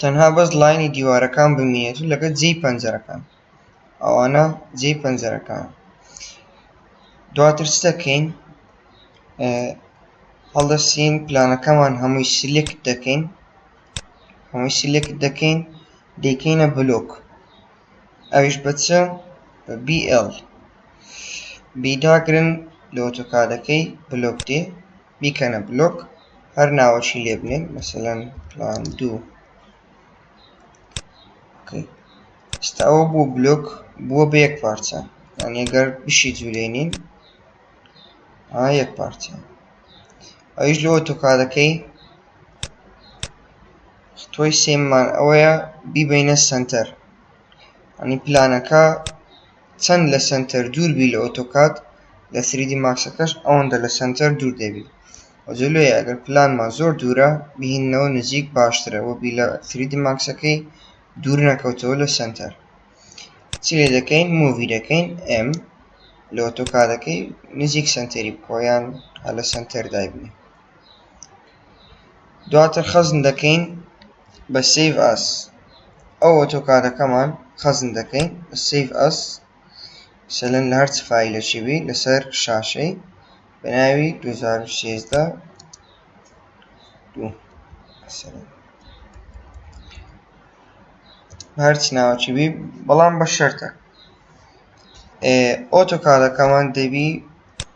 تەنها بەس لاینی دیوارەکان بمینێت و لەگەر جێی پەنجەرەکان ئەوانە جێی پەنجەرەکان دواتر چ دەکەین هەڵدەسین پلانەکەمان هەمووی سلێکت دەکەین هەمووی سلێکت دەکەین دەیکەینە بلۆک ئەویش بە چ بە BL بیداگرن لە ئۆتۆکادەکەی بلۆک دێ بیکەنە بلۆک هەر ناوەکی لێ بنێن مەسەلەن پلان دوو ئێستا ئەوە بۆ بلۆک بووە بە یەک پارچە یان ئەگەر بشی جوولێنین ئا یەک پارچە ئەویش لۆ تۆکادەکەی تۆی سێممان ئەوەیە بیبینە سنتەر ئەنی پلانەکە چەند لە سەنتەر دوور بی لە ئۆتۆکاد لە سری دی ماکسەکەش ئەوەندە لە سەنتەر دوور دەبی وە جەلوێ ئەگەر پلانمان زۆر دوورە بیهیننەوە نزیک باشترە وە بی لە سری دی ماکسەکەی دوور نەکەوتەوە لە سەنتەر چی لێ دەکەین مووی دەکەین ئێم لە ئۆتۆکادەکەی نزیک سەنتەری بکەوە یان هەر لە سەنتەر دایبنێ. دواتر خەزن دەکەین بە سیڤ ئەس ئەو ئۆتۆکادەکەمان خەزن دەکەین بە سیڤ ئەس سەلەن لە هەرچ فیلێکی بی لەسەر شاشەی بە ناوی 2016 دوو هەرچ ناوەکی بی بەڵام بە شەرتە ئۆتۆکادەکەمان دەبی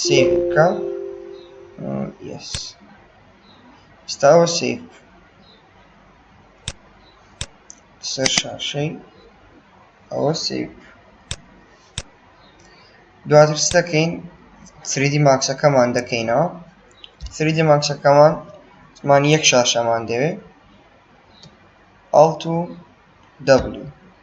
سیڤ بکە یس ستاوە سیڤ سەر شاشەی ئەوە سیڤ دواتر دەکەین سریدی ماکسەکەمان دەکەینەوە سریدی ماکسەکەمان من یەک شاشەمان دەوێت ئاڵت و دەبلو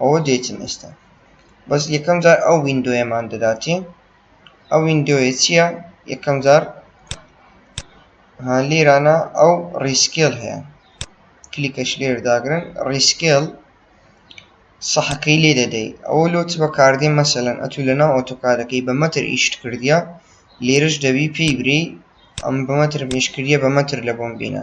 ئەوە دێتن ئێستا بەس یەکەم جار ئەو ویندۆیەمان دەداتێ ئەو ویندۆیە چییە یەکەم جار لێرانە ئەو ڕیسکێل هەیە کلیکەش لێر داگرن ڕیسکێل سەحەکەی لێ دەدەی ئەوە لۆ چ بەکاردێ مەسەلەن ئەتو لەناو ئۆتۆکادەکەی بە مەتر ئیشت کردە لێرش دەبی پێی بری ئەم بە مەتر پێشکردە بە مەتر لە بۆم بینە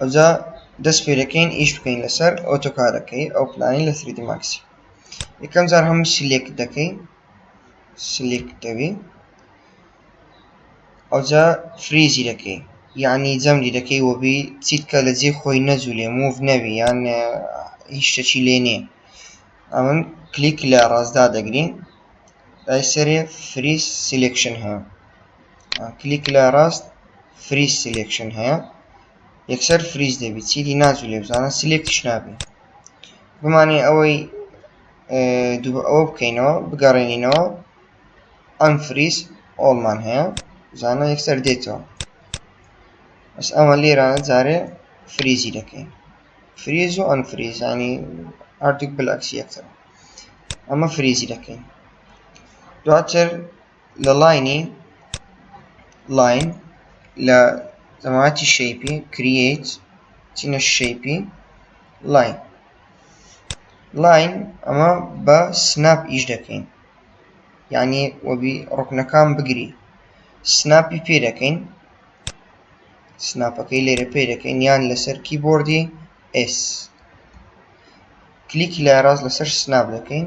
ئەوجا دەست پێدەکەین ئیش بکەین لەسەر ئۆتۆکارەکەی ئەو پلانی لە سریدی ماکسی یەکەم جار هەموو سلێک دەکەی سلێک دەوی ئەوجا فریزی دەکەی یعنی جەمدی دەکەی وەبی چیتکە لە جێ خۆی نەجوولێ موڤ نەوی یان هیچ شتەکی لێ نییە ئەمن کلیک لە ڕاستدا دەگرین لای سەرێ فریز سلێکشن هەیە کلیک لە ڕاست فریز سلێکشن هەیە یەکسەر فریز دەبی چیدی ناچوو لێ بزانە سلێکتش نابێ بمانێ ئەوەی دوو ئەوە بکەینەوە بگەڕێنینەوە ئەم فریز ئۆڵمان هەیە زانە یەکسەر دێتەوە بەس ئەمە لێرانە جارێ فریزی دەکەین فریز و ئەم فریزانی ئارتیک بلکسی یەکتر ئەمە فریزی دەکەین دواتر لە لاینی لاین لە زەماتی شەیپی کریت چینە شەیپی لاین لاین ئەمە بە سناپ ئیش دەکەین یعنی وەبی ڕکنەکان بگری سناپی پێ دەکەین سناپەکەی لێرە پێ دەکەین یان لەسەر کیبۆردی ئس کلیکی لای ڕاست لەسەر سناپ دەکەین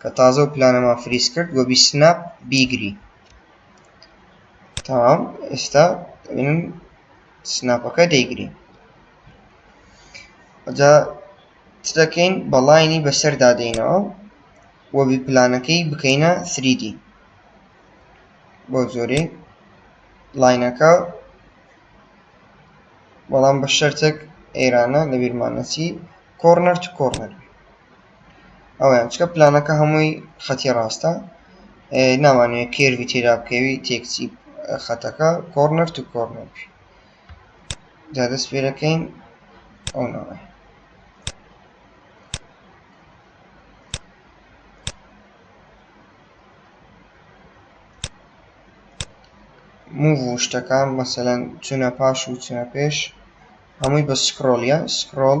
کە تازە و پلانەمان فریز کرد و بی سناپ بیگری تەمام ئێستا من سناپەکە دەیگری ئەجا چ دەکەین بەڵینی بەسەر دادەینەوە و بی پلانەکەی بکەینە 3D بۆ زۆری لاینەکە بەڵام بە شەرتێک ئێرانە لەبیرمانەسی کۆرنەر تو کۆرنەر ئەوەیە چکە پلانەکە هەمووی خەتی ڕاستە ناوانەیە کێرڤی تێدا بکەوی تێکچی خەتەکە کۆرنەر تو کۆرنەر جا دەست پێ دەکەین ئەو ناوە موو و شتەکان مەسەەن چونە پاش و چونە پێش هەمووی بە سکرۆڵە سکرۆڵ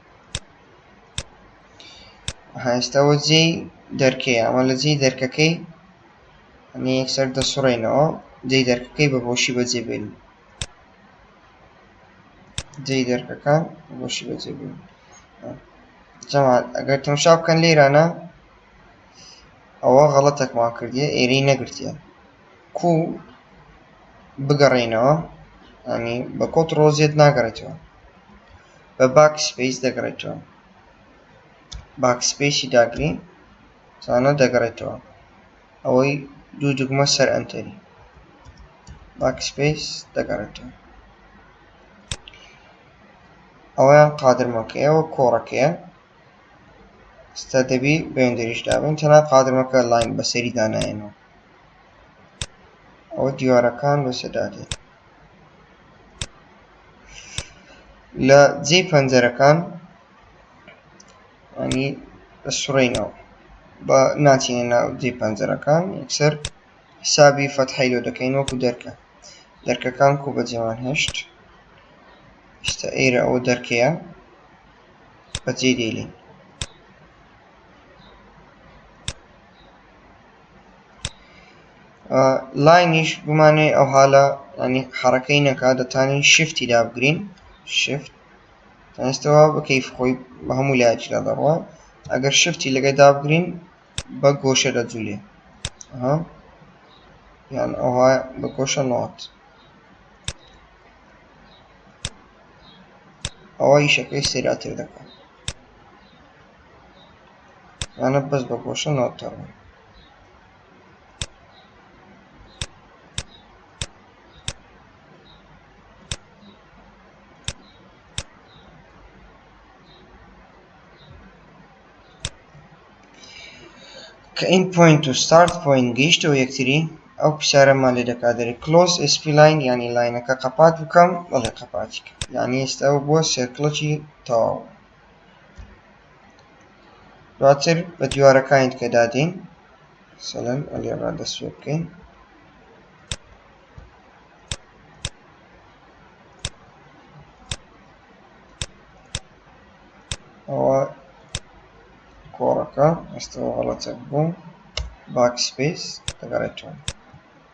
هاستەوە جێی دەرکەی ئەمە لە جێی دەرکەکەی ئەنی یەکسەر دەسوڕێنەوە جێی دەرکەکەی بە بۆشی بەجێ بێن جێی دەرکەکە بۆشی بەجێ بێن جەماعەت ئەگەر تەمشا بکەن لێرانە ئەوە غەڵەتەکمان کردیە ئێرەی نەگرتیە کو بگەڕێینەوە ئەنی بە کۆت ڕۆزیێت ناگەڕێتەوە بە باک سپەیس دەگەڕێتەوە باک سپەیسی داگرین زانە دەگەڕێتەوە ئەوەی دوو دوگمە سەر ئەنتەری باک سپەیس دەگەڕێتەوە ئەویان قادرمەکەیە و کۆڕەکەیە ستا دەبی بەندریش دابن تەنا قادرمەکە لاین بەسەری دانایەنەوە ئەوە دیوارەکان بەسەدادێت لە جێی پەنجەرەکان ینی سڕینەوە بە ناچینە ناو جێ پەنجەرەکان یەکسەر حسابی فەتحی لۆ دەکەین وەکو دەرکە دەرکەکان کو بە جێوان هێشت شتە ئێرە ئەو دەرکەیە بەجێ دێلین لاینیش بمانێ ئەو حالە ئەنی حڕەکەی نەکا دەتانی شفتی دابگرین شفت ئێستەوە بەکەیف خۆی بە هەموو لایەکدا دەڕوە ئەگەر شفتی لەگەی دابگرین بە گۆشە دەجوولێ یان ئەوها بە گۆشە نات ئەوە ئیشەکەی سێراتر دەکەن ئەنە بەس بە گۆشە نۆتەوە کە ئین پوینت و ستارت پوینت گەیشتەوە یەکتری ئەو پسیارەمان لێ دەکات دەری کلۆس ئسپی لاین ینی لاینەکە قەپات بکەم بەڵێ قەپاتی ینی ئێستا بۆ سێکڵەکی تەواو دواتر بە دیوارەکانی تکە دادین سەلەن ئەلێ ڕادەست پێ بکەین ئەوە کۆڕەکە ئەستەوە غەڵەتە بووم باکسپیس دەگەڕێتەوە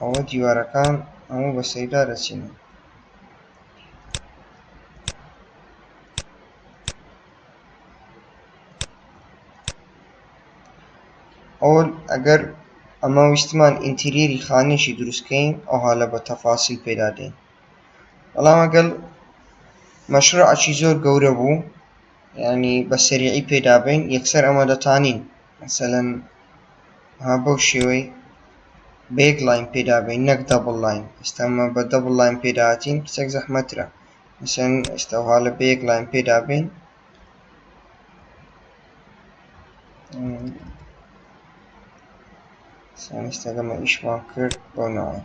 ئەوە دیوارەکان ئەمە بە سەیدا دەچین ئەو ئەگەر ئەمە ویستمان ئینتیریری خانێکی دروستکەین ئەوها لە بە تەفاسیل پێدا دێن بەڵام ئەگەل مەشروعکی زۆر گەورە بوو یانی بە سەریعی پێدا بەین یەکسەر ئەمە دەتانین مەسەلەن ها بەو شێوەی بە یەک لاین پێدا بەین نەک دەبڵ لاین ئێستامە بە دەبڵ لاین پێداهاتین کچێک زەحمەترە مەسەن ئێستاها لە بە یەک لاین پێدا بین سانستەگەمە ئیشمان کرد بۆ ناوە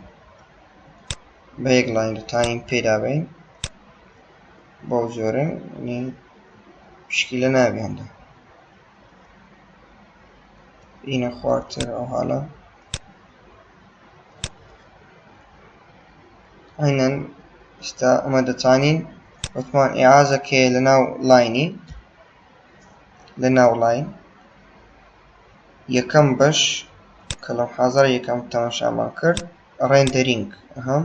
بە یەک لاین دەتانین پێدا بین بەو جۆرە نی پشکیلە نابێ هەندە ئینە خوارتر ئەو حاڵە عینەن ئستا ئەمە دەتوانین وتمان ئعازەکەێ لە ناو لاینی لە ناو لاین یەکەم بەش کەڵم حازار یەکەم تەماشامان کرد ڕێندەرینگ هەم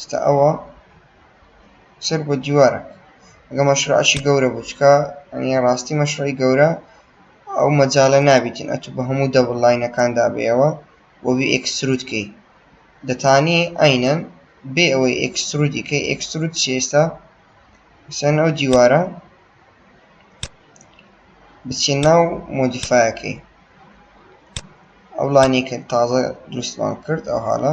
ستا ئەوە سەر بۆ دیوارە ئەگە مەشروعەکی گەورە بوو چکە ئەنی ڕاستی مەشروعی گەورە ئەو مەجالە نابیتن ئەتو بە هەموو دەبڵ لاینەکان دابێەوە وەبی ئەکسرود کەی دەتانی ئاینەن بێ ئەوەی ئەکسرودی کەی ئەکسرود چێستا سەن ئەو دیوارە بچێ ناو مۆدیفاەکەی ئەو لانیکە تازە دروستمان کرد ئەو حاڵە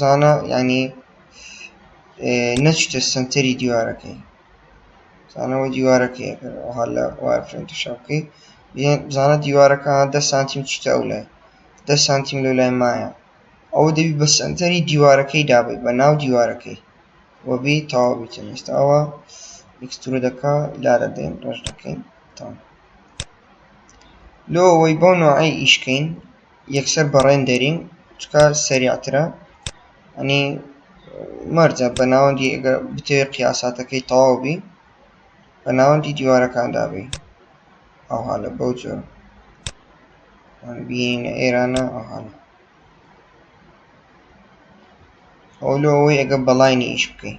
زانا یعنی نەچیتە سەنتەری دیوارەکەی زانەوە دیوارەکەی ئەگەر ئەوها لە وارفرێن تشا بکەی زانە دیوارەکە دە سانتیم چیتە ئەو لای دە سانتیم لەو لای مایە ئەوە دەبی بە سەنتەری دیوارەکەی دابی بە ناو دیوارەکەی وەبی تەواو بیتن ئێستا ئەوە ئکسستور دەکا لارە دێن ڕژ دەکەین تام لۆ ئەوەی بەو نوعی ئیشکەین یەکسەر بە ڕێندەرینگ چونکە سەریعترە ئەنی مەرجە بە ناوەندی ئەگە بتەوێ قیاساتەکەی تەواو بی بە ناوەندی دیوارەکاندا بی ئەوها لە بەو جۆر بینە ئێرانە ئەوهانە ئەو لۆ ئەوەی ئەگە بەڵینی ئیش بکەین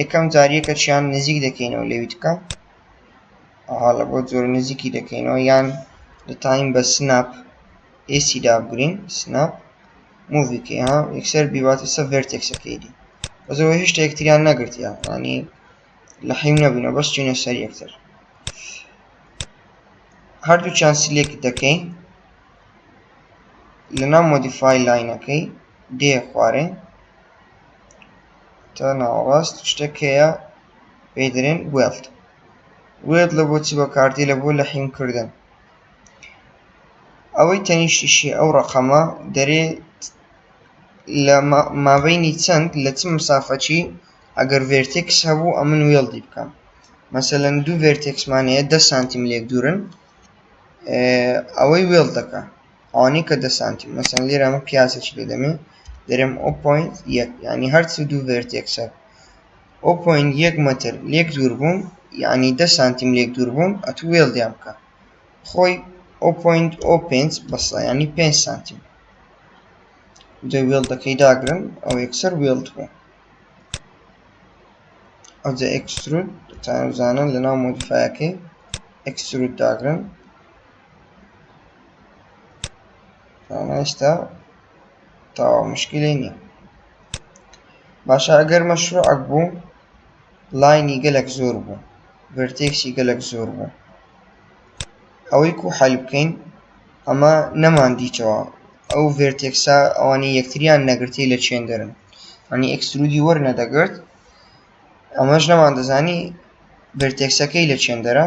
یەکەم جار یەکەکیان نزیک دەکەینەوە لەوی تکە ئەها لە بۆ جۆر نزیکی دەکەینەوە یان دەتوانین بە سناپ ئێسی دابگرین سناپ موڤیکەی ها یەکسەر بیواتە سە ڤێرتێکسەکەیدی بەزەوە هێشتا یەکتریان نەگرتیان ینی لە حیم نەبووینە بەس چینە سەر یەکتر هەردووچیان سلێک دەکەین لەنا مۆدیفای لاینەکەی دێ خوارێ تا ناوەڕاست شتێک هەیە پێی دەرێن وێڵد وێت لە بۆ چی بە کارتی لە بۆ لە حیمکردن ئەوەی تەنیشتیشی ئەو ڕقەمە دەرێ لە مابینی چەند لە چ مسافەچی ئەگەر ڤێرتێکس هەبوو ئەمن وێڵدی بکەم مەسەەن دوو ڤێرتێکسمانەیە ده سانتیم لێک دوورن ئەوەی وێڵ دەکە ئەوانەی کە دە سانتیم مەسەن لێرە ئەمە پیاسێکی لێ دەمێ دەرێم ئەو پوین یەک یعنی هەرچ دوو ڤێرتێکسەر ئەو پوین یەک مەتر لێک دوور بوون یعنی دە سانتیم لێک دوور بوون ئەتو وێڵ دیان بکە خۆی ئەو پوینت ئەو پێنج بەسە ینی پێ سانتیم دە وێڵ دەکەی داگرن ئەو یەکسەر وێڵ بوو ئەوجە ئەکسترود تانزانن لە ناو مۆدیفاەکەی ئەکسترود داگرن ئێستا تاوا مشکلی نییە باشە ئەگەر مەشروعک بوو لاینی گەلک زۆر بوو ڤرتێکسی گەلک زۆر بوو ئەوەی کو حل بکەین ئەمە نەماندیتەوە ئەو ڤێرتێکسا ئەوانی یەکتریان نەگرتی لە چێن دەرن ئەنی ئەکسرودی وەرنە دەگرت ئەمەش نەمان دەزانی ڤێرتێکسەکەی لە چێندەرە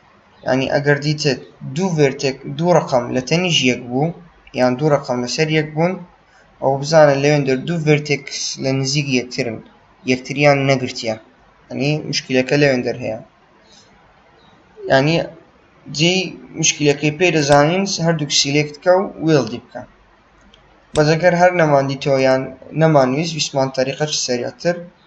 یانی ئەگەر دیتت دوو ڤێرتێک دوو ڕقم لە تەنیش یەک بوو یان دوو ڕقم لەسەر یەک بوون ئەو بزانە لەوێندەر دوو ڤێرتێکس لە نزیک یەکترن یەکتریان نەگرتیە ئەنی مشکلەکە لەوێندەر هەیە ینی جێی مشکلەکەی پێ دەزانین هەردووک سیلێکتکە و وێڵدی بکە بەزەگەر هەر نەماندیتەوە یان نەمانویست ویسمان تەریقەش سەرەتر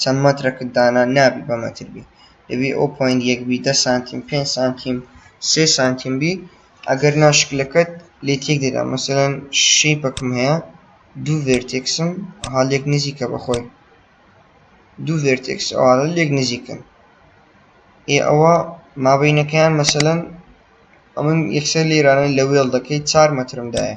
چەند مەترەکت دانا نابی بە مەتر بی دەبی ئەو پۆینت یەک بی دە سانتیم پێنج سانتیم سێ سانتیم بی ئەگەر نا شکلەکەت لێ تێک دەدا مەسەلەن شەیپەکم هەیە دوو ڤێرتێکسم ها لێک نزیکە بەخۆی دوو ڤێرتێکس ئەوانە لێک نزیکن ئێ ئەوە مابینەکەیان مەسەلەن ئەمن یەکسەر لێرانە لە وێڵ دەکەی چار مەترم دایە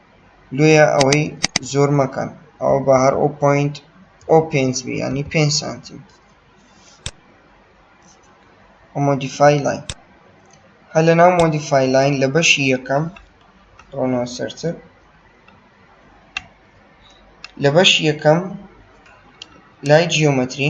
لۆیە ئەوەی زۆر مەکەن ئەوە بە هەر ئەو پوینت ئەو پێنج بی ینی پێ سانتیم مۆدیفای لاین هەر لە ناو مۆدیفای لاین لە بەشی یەکەم ڕۆنەوە سەرتر لە بەشی یەکەم لای جیۆمەتری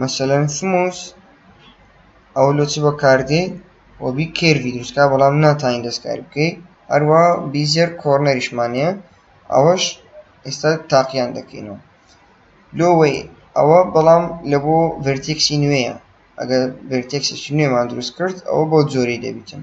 مەسەلەن سموس ئەوە لۆ چ بەکاردێ و بی کێرڤی دروستکا بەڵام ناتانی دەستکاری بکەی هەروە بیزێر کۆرنەریشمانەیە ئەوەش ئێستا تاقییان دەکەینەوە لۆوەی ئەوە بەڵام لە بۆ ڤرتێکسی نوێیە ئەگەر ڤرتێکسێکی نوێمان دروست کرد ئەوە بۆ جۆری دەبیتن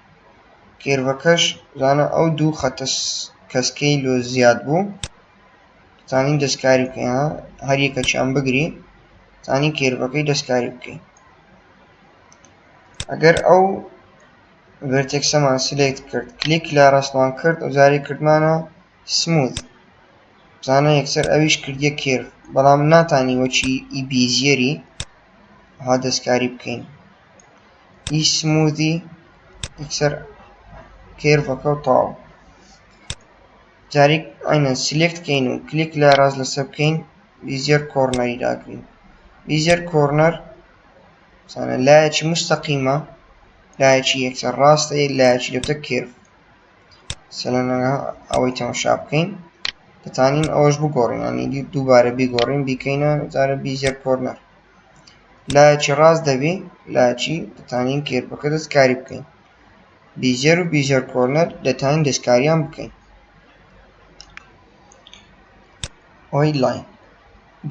کێرڤەکەش زانە ئەو دوو خەتە کەسکەی لۆ زیاد بوو زانین دەستکاری بکەین هەر یەکەچیان بگری زانین کێرڤەکەی دەستکاری بکەین ئەگەر ئەو ڤرتێکسەمان سلێکت کرد کلیک لە ڕستمان کرد و جاری کردمانە سموت زانە یەکسەر ئەویش کردیە کێرڤ بەڵام ناتانی وەچی ئی بیزیەری ها دەستکاری بکەین ی سموودی یەکسەر کێرڤەکە و تەواو جاریک ئەینە سلێکت کەین و کلیک لە ڕاست لەسەر بکەین بیزیەر کۆرنەری داگرین بیزیەر کۆرنەر سانە لایەکی مستەقیمە لایەکی یەکسەر ڕاستە یەک لایەکی لەتە کێرڤ سەلەنەها ئەوەی تەمەشا بکەین دەتانین ئەوەش بگۆڕین ینی دووبارە بیگۆڕین بیکەینە جارە بیزیەر کۆرنەر لایەکی ڕاست دەبی لایەکی دەتانین کێربەکە دەستکاری بکەین بیجەر و بیجەر کۆرنەر دەتانین دەستکاریان بکەین ئۆی لاین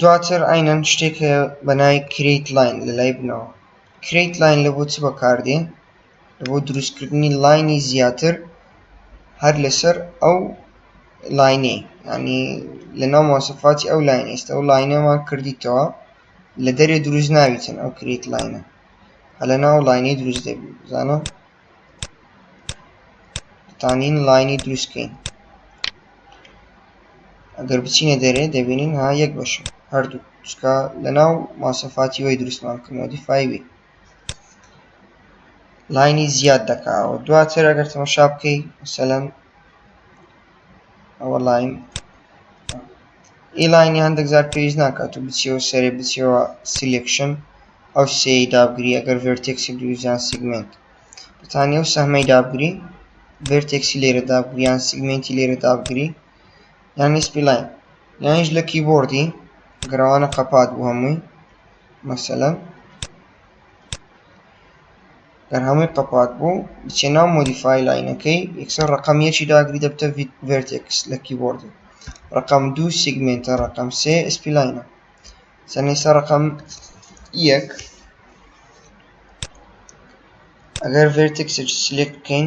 دواتر ئاینەن شتێک بەنای کریت لاین لە لای بنەوە کریت لاین لە بۆ چ بەکاردێن بۆ دروستکردنی لاینی زیاتر هەر لەسەر ئەو لاینەی ینی لە ناو ماسەفاتی ئەو لاین ئێستا ئەو لاینەمان کردیتەوە لە دەرێ دروست ناویتن ئەو کریت لاینە هە لە ناو لاینەی دروست دەبی بزانە تانین لاینی دروستکەین ئەگەر بچینە دەرێ دەبینین ها یەک بەشە هەردوو چکە لە ناو ماسەفاتی وی دروستمان کردەوە دیفای بێ لاینی زیاد دەکاوە دواتر ئەگەر تەمەشا بکەی مثلەن ئەوە لاین ئی لاینی هەندێک زار پێویست ناکات و بچیەوە سەرێ بچیەوە سیلکشن ئەو سێی دابگری ئەگەر ڤێرتێکسی دووزیان سیگمنت بتانی ئەو سەحمەی دابگری ڤێرتێکسی لێرە دابگریان سیگمنتی لێرە دابگری یانی سپی لاین یانیش لە کیبۆردی گرەوانە قەپات بوو هەمووی مەسەلەن گەر هەمووی قەپات بوو بچێ ناو مۆدیفای لاینەکەی یەکسەر ڕقم یەکی داگری دەبتە ڤێرتێکس لە کیبۆردی ڕقم دوو سیگمنتە ڕقم سێ ئسپی لاینە سەنیسە ڕقم یەک ئەگەر ڤێرتێکسێک سلێک بکەین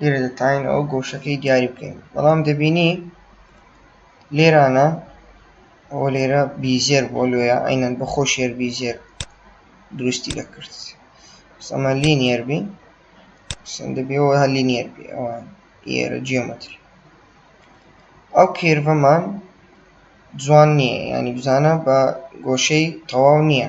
لێرە دەتوانین ئەو گۆشەکەی دیاری بکەین بەڵام دەبینی لێرانە ئەو لێرە بیزێر بۆ لۆیە ئەینەن بە خۆ شێر بیزێر دروستی دەکرد ئەمە لینیەر بین سندبیەوە هە لینیەر بێ ئەوان ئێرە جیۆمەتر ئەو کێرڤەمان جوان نییە ینی بزانە بە گۆشەی تەواو نییە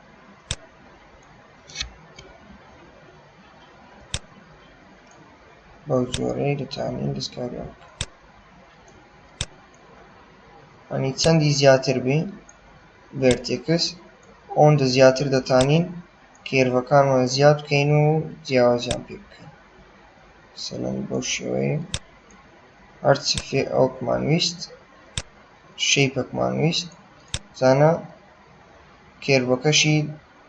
بەو جۆرەی دەتوانین دەستکاریان ئەنی چەندی زیاتر بی ڤێرتێکس ئەوەندە زیاتر دەتانین کێرڤەکانمان زیاد بکەین و جیاوازیان پێ بکەین سەلەن بەو شێوەیە هەرچی فێ ئەوکمان ویست شەیپەکمان ویست زانە کێربۆکەشی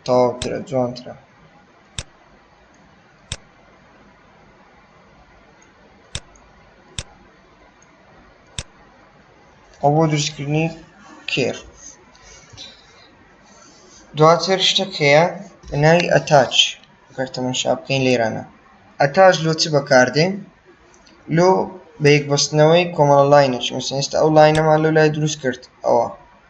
تەواوترە جوانترە. ئەو بۆ دروستکردنی کێر دواتر شتێک هەیە ناوی ئەتاچ گەر تەماشا بکەین لێرانە ئەتاچ لۆ چ بەکاردێن لۆ بە یەکبەستنەوەی کۆمەڵە لاینێکی مەسەن ئێستا ئەو لاینەمان لۆ لای دروست کرد ئەوە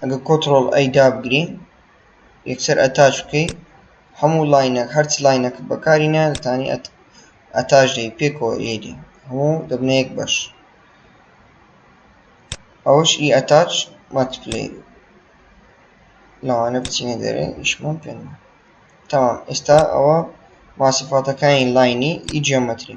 ئەگە کۆترۆڵ ئەی دابگری یەکسەر ئەتاش بکەی هەموو لاینەک هەرچ لاینەکە بەکاری نە دەتانی ئەتاش دەی پێکەوە ئێدی هەموو دەبنە یەک بەش ئەوش ئی ئەتاش ماتپلی لەوانە بچینە دەرێ ئیشمان پێ تەمام ئێستا ئەوە ماسیفاتەکانی لاینی ئی جیۆمەتری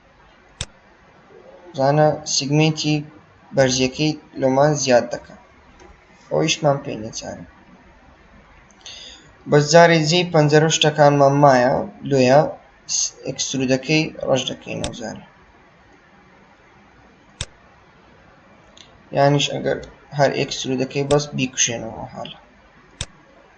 زانە سیگمێنتی بەرزیەکەی لۆمان زیاد دەکە ئەویشمان پێ نەچارە بەس جارێ جێی پەنجەرە و شتەکانمان مایە لۆیە ئەکسرودەکەی ڕەش دەکەینەوە جارێ یانیش ئەگەر هەر ئەکسرودەکەی بەس بیکوشێنەوە حاڵە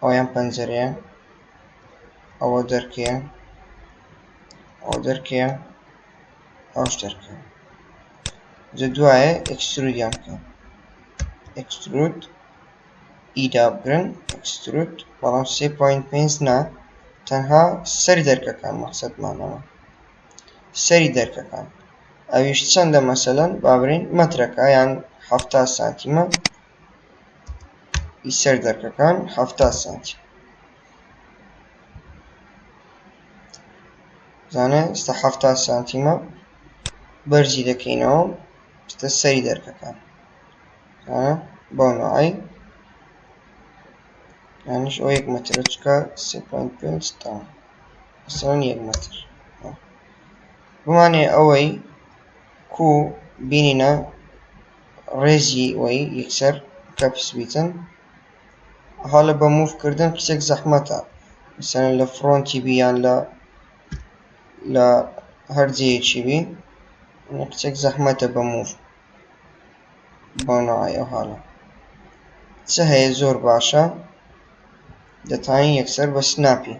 ئەوەی ئەم پەنجەرەیە ئەوە دەرکەیە ئەو دەرکەیە ئەوش دەرکە جە دوایە ئەکسترودیان بکە ئەکسترود ئیدا بگرن ئەکسترود بەڵام سێ پوین پێنج نا تەنها سەری دەرکەکان مەقصدمانەوە سەری دەرکەکان ئەویش چەندە مەسەلەن بابرین مەترەکە یان هەفتا سانتیمە ی سەر دەرکەکان حەفتا سانتی زانە ئێستا حەفتا سانتیمە بەرزی دەکەینەوە ستە سەری دەرکەکان بۆ نوعی یانش ئەو یەک مەترە چکە پێنج تا سان یەک مەتر بمانێ ئەوەی کو بینینە ڕێزی وەی یکسەر کەپس بیتن هەڵە بە موف کردن کچێک زەحمەتە مثلەن لە فڕۆنتی بی یان لە لە هەر جێیەکی بی کچێک زەحمەتە بە موف بۆنەوەی ئەو هەڵە چ هەیە زۆر باشە دەتوانین یەکسەر بە سناپی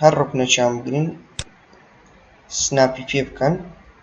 هەر ڕکنەچان بگرین سناپی پێ بکەن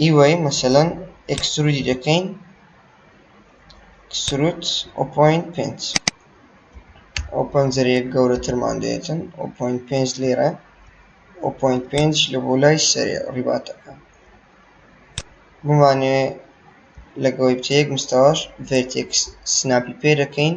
ئیوەی مەسەلەن ئێکسترودی دەکەین ئێکسترود ئەو پۆینت پێنج ئەو پەنجەرەیە گەورەترمان دێتن ئەو پۆینت پێنج لێرە ئەو پۆینت پێنج لە بۆ لای سەرێ ڕیباتەکە بمانێ لەگەڵی بچە یەک مستەواش ڤێرتێکس سناپی پێ دەکەین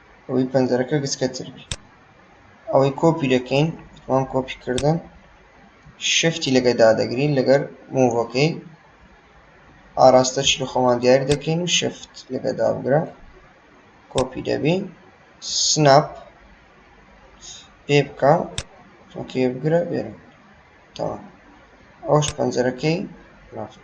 ئەوەی پەنجەرەکە گچکەتر بی ئەوەی کۆپی دەکەین وان کۆپی کردن شفتی لەگە دادەگرین لەگەر موڤەکەی ئاراستە چی خۆمان دیاری دەکەین و شفت لەگە دابگرە کۆپی دەبی سناپ پێ بکە ئۆکێ بگرە بێرە تەواو ئەوش پەنجەرەکەی ڕافت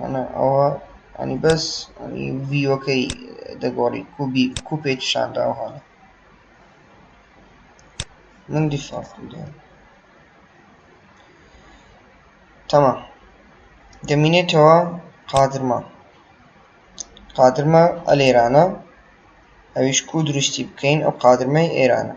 ئەنا ئەوە ئەنی بەس ئەنی ڤیۆکەی دەگۆڕی کوبی کوپێک شانداو هەڵە من دیفاڵت بدەم تەمام دەمینێتەوە قادرمە قادرمە ئەلێرانە ئەویش کو دروستی بکەین ئەو قادرمەی ئێرانە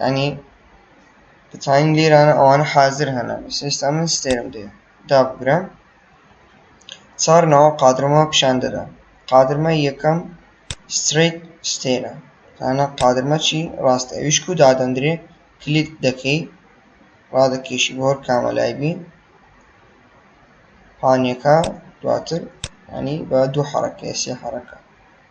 یانی دەتوانین لێرانە ئەوانە حازر هەنە ئێستا من ستێرم دێ دابگرم چار ناوە قادرمە پیشان دەدا قادرمە یەکەم ستریت ستێرە تانە قادرمە چی ڕاست ئەویشک و دادەندرێ کلیت دەکەی ڕادەکێشی بۆر کامەلای بی پانیەکە دواتر ینی بە دوو حڕەکە سێ حڕەکە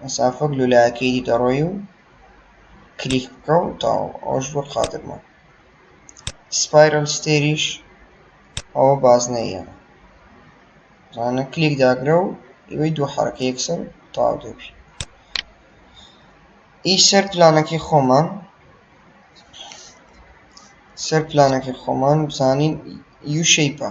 مەسافەک لولاکەی دی دەڕۆی و کلیک بکە و تاو ئەوش بۆ قادرمە سپایرل ستێریش ئەوە بازنەیە زانە کلیک داگرە و ئەوەی دوو حرەکە یەکسەر تاو دەبی ئی سەر پلانەکەی خۆمان سەر پلانەکەی خۆمان بزانین یو شەیپە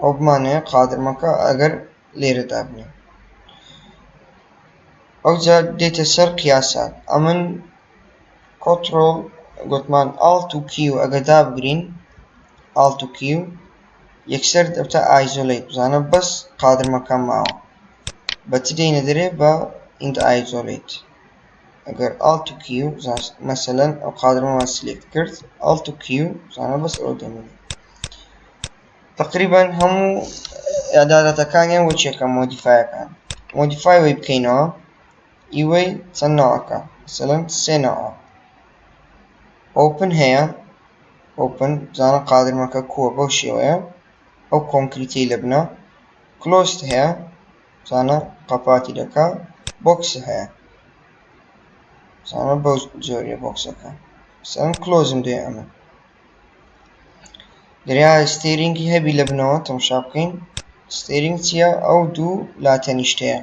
ئەو بمانەیە قادر مەکە ئەگەر لێرە دابنێ ئەوجا دێتە سەر قیاسات ئەمن کۆترۆڵ گوتمان ئاڵت و کیو ئەگە دابگرین ئاڵت و کیو یەکسەر دەبتە ئایزۆلیت بزانە بەس قادر مەکە ماوە بە چ دێینە دەرێ بە ئینت ئایزۆلیت ئەگەر ئاڵت و کیو مەسەلەن ئەو قادرمەوە سلێکت کرد ئاڵت و کیو زانە بەس ئەوە دەمێنێ تقریبا هەموو ئەدادەتەکانیان بۆ چێکە مۆدیفایەکان مۆدیفای وی بکەینەوە ئیوەی چەند ناوەکە مەسەلەن سێ ناوە ئۆپن هەیە ئۆپن زانە قادرمەکە کووە بەو شێوەیە ئەو کۆنکریتی لە بنە کلۆست هەیە زانا قەپاتی دەکا بۆکسی هەیە زانا بەو جۆریە بۆکسەکە سەم کلۆزم دێ ئەمە دریا ستێرینگی هەبی لە بنەوە تەمشا بکەین ستێرینگ چییە ئەو دوو لا تەنیشتەیە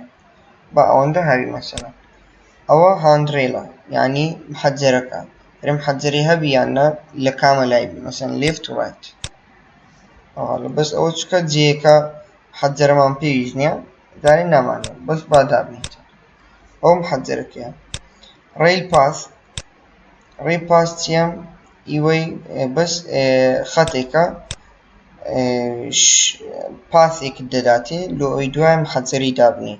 بە ئەوەندە هاوی مەسەلە ئەوە هاندرێلە یعنی حەجەرەکە رم حەجەری هەبی یاننا لە کامە لای مەسەن لێفت و ڕایت ئەوە بەس ئەوە چکە جێەکە حەجەرەمان پێویست نیە جارێ نامانەوێت بەس با دابنێیتەوە ئەو محەجەرە کێیە ڕێیل پاس ڕێی پاس چیە ئیوەی بەس خەتێکە پاسێکت دەداتێ لۆ ئەوی دوای محەجەری دابنێی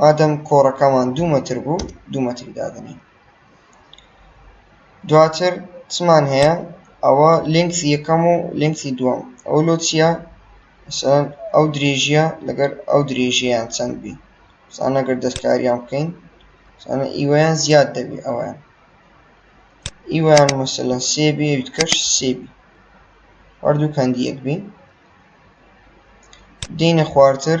ئادەم کۆڕەکەمان دوو مەتر بوو دوو مەتری دادنی دواتر چمان هەیە ئەوە لینکسی یەکەم و لینکسی دووەم ئەو لۆ چییە مثلەن ئەو درێژیە لەگەر ئەو درێژیان چەند بی سانەگەر دەستکاریان بکەین سانە ئیوەیان زیاد دەبی ئەویان ئیوان مثلەن سێ بێ کەش سێ بی هەردوو کەندی یەک بین دینە خوارتر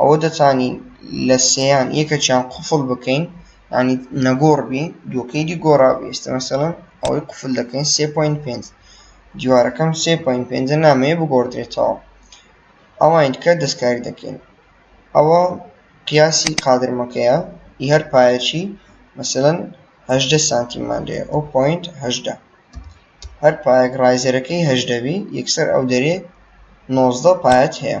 ئەوە دەتوانین لە سێیان یەکەکیان قفڵ بکەین ینی نەگۆڕ بی دووەکەی دی گۆڕا ئێستا مەسەڵەن ئەوەی قفل دەکەین سێ پوین پێنج دیوارەکەم سێ پوین پێنجە نامەیە بگۆڕدرێتەوە ئەوان کە دەستکاری دەکەین ئەوە قیاسی قادرمەکەیە ئی هەر پایەکی مەسەن هەدە سانتیمان لێ ئەو پوینت هەدە هەر پایەک ڕایزەرەکەی هەدەبی یەکسەر ئەو دەرێ نۆزدە پایەت هەیە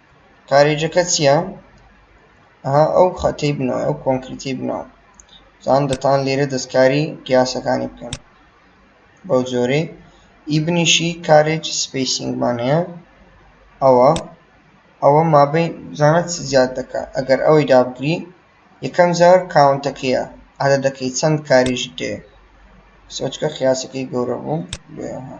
کارێجەکە چییە؟ ئەها ئەو خەتەی بنەوە ئەو کۆنکریتی بنەوە زان دەتان لێرە دەستکاری قیاسەکانی بکەن بەو جۆرەی ئی بنیشی کارێج سپیسینگمان هەیە ئەوە ئەوە مابەی زانەت زیاد دەکە ئەگەر ئەوەی دابگری یەکەم جار کاونتەکەیە عادە دەکەی چەند کاریش دێ سۆچکە قیاسەکەی گەورە بوو بێها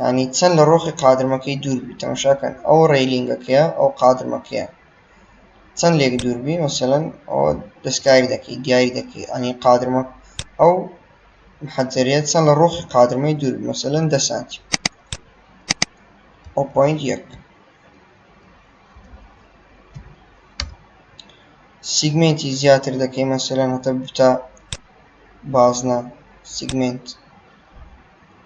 یانی چەند لە ڕۆخی قادرمەکەی دوور بی تەمەشا کەن ئەو ڕێلینگەکەیە ئەو قادرمەکەیە چەند لێک دوور بی مەسەلەن ئەو دەستکاری دەکەی دیاری دەکەی ئەنی قادرمە ئەو محەجەریە چەند لە ڕۆخی قادرمەی دوور مەسەلەن دە سانتی ئەو پوینت یەک سیگمنتی زیاتر دەکەی مەسەلەن هەتە بتە بازنە سیگمنت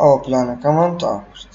ئەوە پلانەکەمان تەواو کرد.